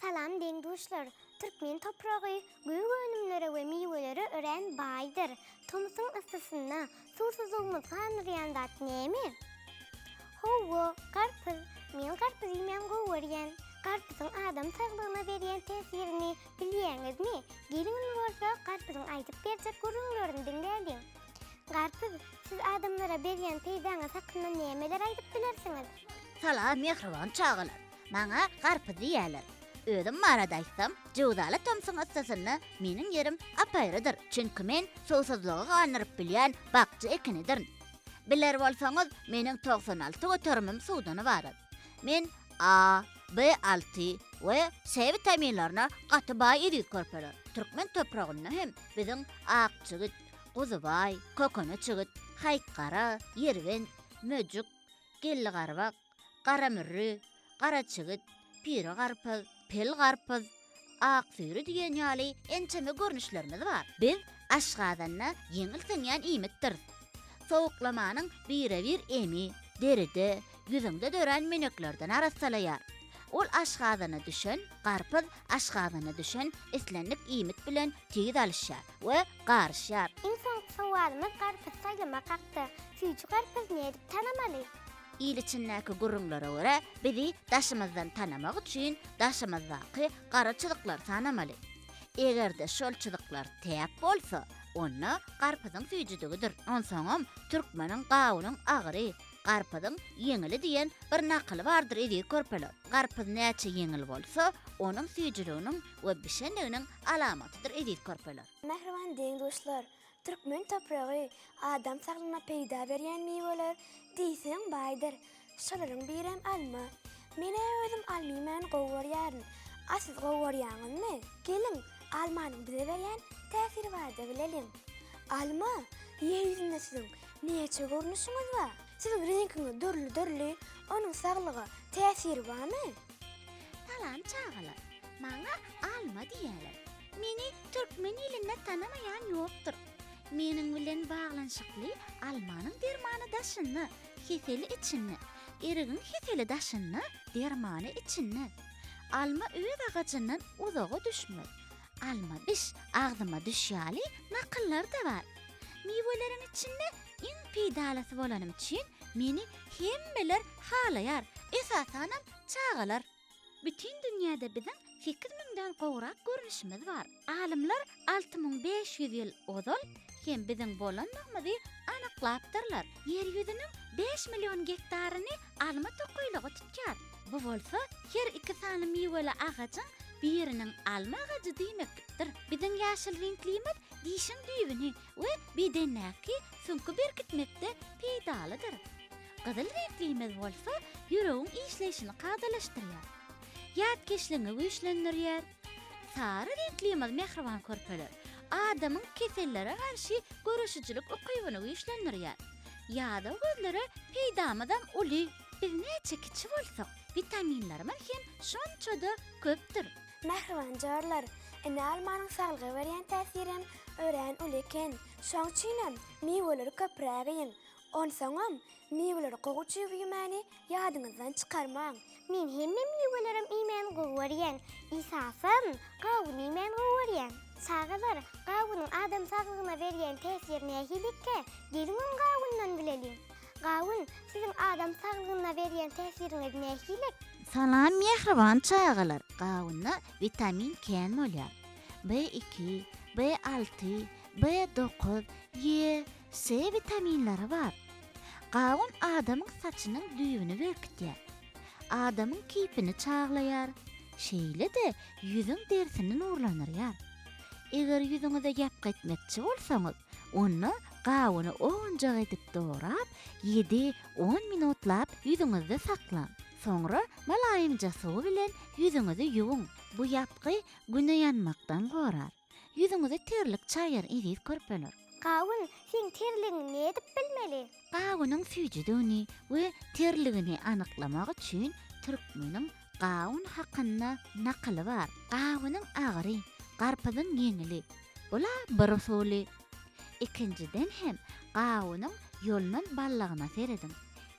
Salam deň-duşlar! Türkmen topragy gök önümlere we miwelere örän baýdyr. Tomusyň yssysynda suwsuzlygymyz gandyrýan zat näme? Hawa, garpyz. Men garpyz iýmän gowy görýän. Garpyzyň adam saglygyna berýän täsirini bilýäňizmi? Geliň indi bolsa garpyzyň aýdyp berjek gürrüňlerini diňläliň. Garpyz, siz adamlara berýän peýdaňyz hakynda nämeler aýdyp bilersiňiz? Salam mähriban çagalar! Maňa garpyz diýýärler. Özüm barada aýtsam, jöwzaly tomsuň yssysynda meniň ýerim apaýrydyr, çünki men suwsuzlygy gandyryp bilýän bakja ekinidirin. Biler bolsaňyz, meniň togsan alty göterimim suwdan ybarat. Men A, B alty we C witaminlerine gaty baý eziz körpeler. Türkmen topragynda hem biziň ak jigit, guzubaý, kökene çigit, haýkgara, ýerbent, möjük, gelligarbak, garamürri, garaçigit, pire garpyz, pil garpyz, aksüýri diýen ýaly ençeme görnüşlerimiz bar. Biz aşgazanda ýeňil siňýän iýmitdir. Sowuklamanyň birebir emi deride, ýüzüňde dörän meneklerden arassalaýar. Ol aşgazana düşen garpyz aşgazana düşen islendik iýmit bilen tiz alyşýar we garyşýar. Iň soňky sowalymyz garpyz saýlamak hakda. Süýji garpyz nädip tanamaly? Il içindäki gürrüňlere görä, bizi daşymyzdan tanamak üçin daşymyzdaky gara çyzyklary tanamaly. Eger-de şol çyzyklar täk bolsa, onda garpyzyň süýjüdigidir. Onsoňam Türkmeniň gawunyň agyry, garpyzyň ýeňili diýen bir nakyly bardyr eziz körpeler. Garpyz näçe ýeňil bolsa, onuň süýjüliginiň we bişendiginiň alamatydyr eziz körpeler. Mähriban deň-duşlar! Türkmen topragy, adam saglygyna peýda berýän miweler diýseň baýdyr. Şolaryň birem alma. Men-ä özüm almymany gowy görýärin. A siz gowy görýäňizmi? Geliň, almanyň bize berýän täsiri barada bileliň. Alma, Ýer ýüzünde siziň näçe görnüşiňiz bar? Siziň reňkiňiz dürli-dürli, onuň saglyga täsiri barmy? Salam çagalar! Maňa alma diýýärler. Meni türkmen ilinde tanamaýan ýokdur. Meniň bilen baglanyşykly almanyň dermany daşynda, keseli içinde, erigiň keseli daşynda, dermany içinde. Alma öz agajyndan uzaga düşmez. Alma diş, agzyma düş ýaly nakyllar-da bar. Miweleriň içinde iň peýdalysy bolanym üçin meni hemmeler halaýar, esasanam çagalar. Bütin dünýäde biziň sekiz müňden gowrak görnüşimiz bar. Alymlar alty müň bäş ýüz ýyl ozal hem biziň bolanlygymyzy anyklapdyrlar. Ýer ýüzüniň bäş million gektaryny alma tokaýlygy tutýar. Bu bolsa her iki sany miweli agajyň biriniň alma agajy diýmeklikdir. Biziň ýaşyl reňklimiz dişiň düýbüni we bedendäki süňki berkitmekde peýdalydyr. Gyzyl reňklimiz bolsa ýüregiň işleýşini kadalaşdyrýar. Ýatkeşligiňi güýçlendirýär. Sary reňklimiz mähriban körpeler. Adamyň kesellere garşy göreşijilik ukybyny güýçlendirýär. Ýadaw gözlere peýdamyzam uly. Biz näçe kiçi bolsak, witaminlerimiz hem şonça-da köpdür. Mähriban jarlar, ene almanyň saglyga berýän täsirem örän uly eken. Şoň üçinem miweleri köpräk iýiň. Onsoňam, miweleri gowy çig iýmäni ýadyňyzdan çykarmaň. Men hemme miwelerem iýmäni gowy görýän. Esasam, gawun iýmäni gowy görýän. Çagalar, gawunyň adam saglygyna berýän täsiri nähilikä? Geliň öň gawundan bileliň. Gawun, siziň adam saglygyna berýän täsiriňiz nähilek? Salam mähriban çagalar! Gawunda witamin kän bolýar. B iki, B alty, B dokuz, E, C witaminleri bar. Gawun adamyň saçynyň düýbüni berkitýär. Adamyň keýpini çaglaýar, şeýle-de ýüzüň derisini nurlandyrýar. Eger ýüzüňize ýapgy etmekçi bolsaňyz, onda gawuny owunjak edip dorap, ýedi, on minutlap ýüzüňizde saklaň. Soňra mylaýymja suw bilen ýüzüňizi ýuwuň. Bu ýapgy güne ýanmakdan gorar. Ýüzüňizi terlik çaýar eziz körpeler. Gawun, seň terligiňi nädip bilmeli? Gawunyň süýjüdigini we terligini anyklamak üçin türkmeniň gawun hakynda nakyly bar. Gawunyň agyry, garpyzyň ýeňili. Bul-a bir usuly. Ikinjiden hem gawunyň ýolnan ballagyna serediň.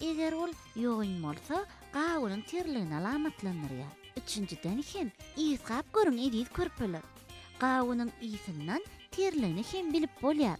Eger ol ýogyn bolsa, gawunyň terligini alamatlandyrýar. Üçünjiden hem, ysgap görüň eziz körpeler. Gawunyň ysyndan terligini hem bilip bolýar.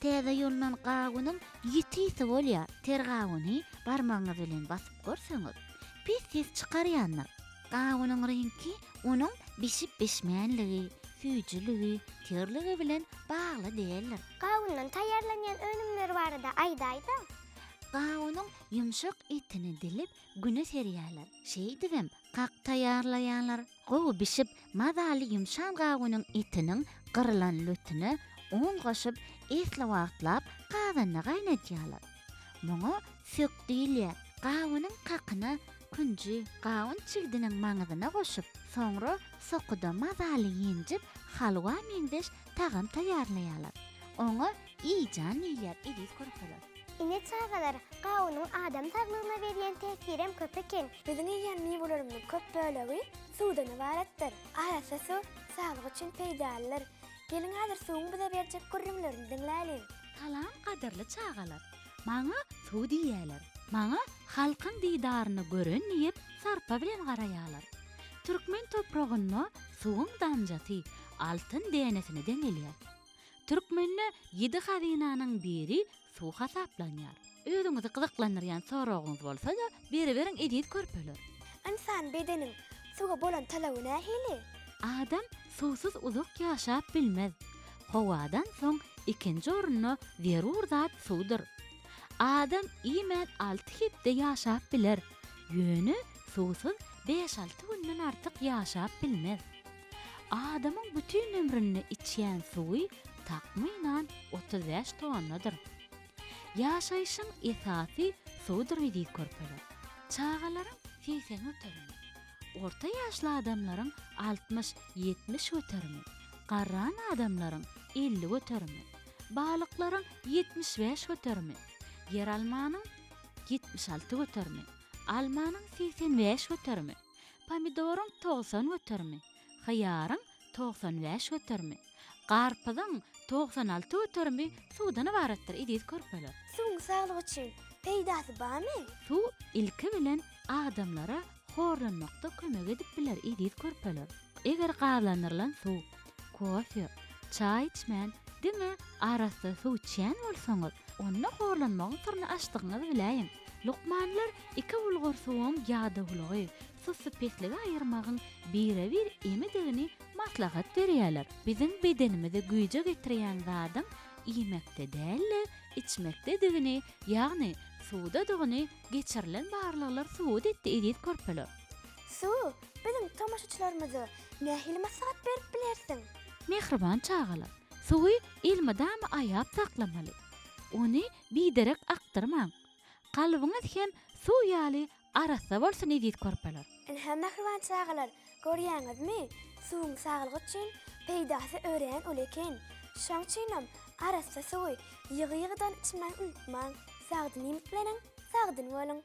Täze ýolunan gawunyň ýiti ysy bolýar. Ter gawuny barmagyňyz bilen basyp görseňiz, pis ses çykarýandyr. Gawunyň reňki onuň bişip-bişmänligi, süýjüligi, terligi bilen bagly däldir. Gawundan taýýarlanýan önümler barada aýdaýda. Gawunyň ýumşak etini dilip, güne serýärler. Şeýdibem, kak taýýarlaýarlar. Gowy bişip, mazaly ýumşan gawunyň etiniň gyrylan lötüne un goşup, esli wagtlap gazanda gaýnadýarlar. Muňa sök diýilýär. Gawunyň kakyna künji gawun çigdiniň maňyzyna goşup, soňra sokuda mazaly ýenjip, halwa meňzeş tagam taýýarlaýarlar. Oňa Eý jan diýilýär eziz körpeler. Ine çagalar, gawunyň adam saglygyna berýän täsirem köp eken. Biziň iýýän miwelerimiziň köp bölegi suwdan ybaratdyr. Arassa suw saglyk üçin peýdalydyr. Geliň häzir suwuň bize berjek gürrüňlerini diňläliň. Salam gadyrly çagalar. Maňa suw diýýäler. Maňa halkyň didaryny gören diýip sarpa bilen garaýarlar. Türkmen topragynda suwuň damjasy altyn dänesine deňelýär. Türkmende ýedi hazynanyň biri suw hasaplanýar. Özüňizi gyzyklandyrýan soragyňyz bolsa-da, beriberiň eziz körpeler! Ynsan bedeniň suwa bolan talaby nähili? Adam suwsuz uzak ýaşap bilmez. Howadan soň ikinji orunda zerur zat suwdur. Adam iýmän alty hepde ýaşap biler, ýöne suwsuz bäş-alty günden artyk ýaşap bilmez. Adamyň bütin ömründe içýän suwy takmynan otuz bäş tonnadyr. Ýaşaýşyň esasy suwdur diýdi körpeler. Çagalaryň segsen göterimi, orta ýaşly adamlaryň altmyş, ýetmiş göterimi, garran adamlaryň elli göterimi, balyklaryň ýetmiş bäş göterimi, ýeralmanyň ýetmiş alty göterimi, almanyň segsen bäş göterimi, Pomidoryň togsan göterimi, hyýaryň togsan bäş göterimi, garpyzyň togsan alty göterimi suwdan ybaratdyr, eziz körpeler. Suwuň saglyk üçin peýdasy barmy? Suw ilki bilen adamlara horlanmakda kömek edip biler, eziz körpeler. Eger gazlandyrylan suw Kofe, çaý içmän, diňe arassa suw içýän bolsaňyz, onda horlanmagyň syryny açdygyňyzy biläýiň. Lukmanlar iki bulgur suwuň ýadawlygy, sussupestligi aýyrmagyň bire-bir emidigini maslahat berýärler. Biziň bedenimizi güýje getirýän zadyň iýmekde däl-de, içmekdedigini, ýagny suwdadygyny geçirilen barlaglar subut etdi, eziz körpeler. Su, biziň tomaşaçylarymyza nähili maslahat berip bilersiň? Mähriban çagalar, suwy elmydama aýap saklamaly. Ony biderek akdyrmaň. Kalbyňyz hem suw ýaly arassa bolsun eziz körpeler. Ynha mähriban çagalar, görýäňizmi, suwuň saglyk üçin peýdasy örän uly eken. Şoň üçinem arassa suwy ýygy-ýygydan içmän unutmaň. Sagdyn iýmitleniň, sagdyn boluň!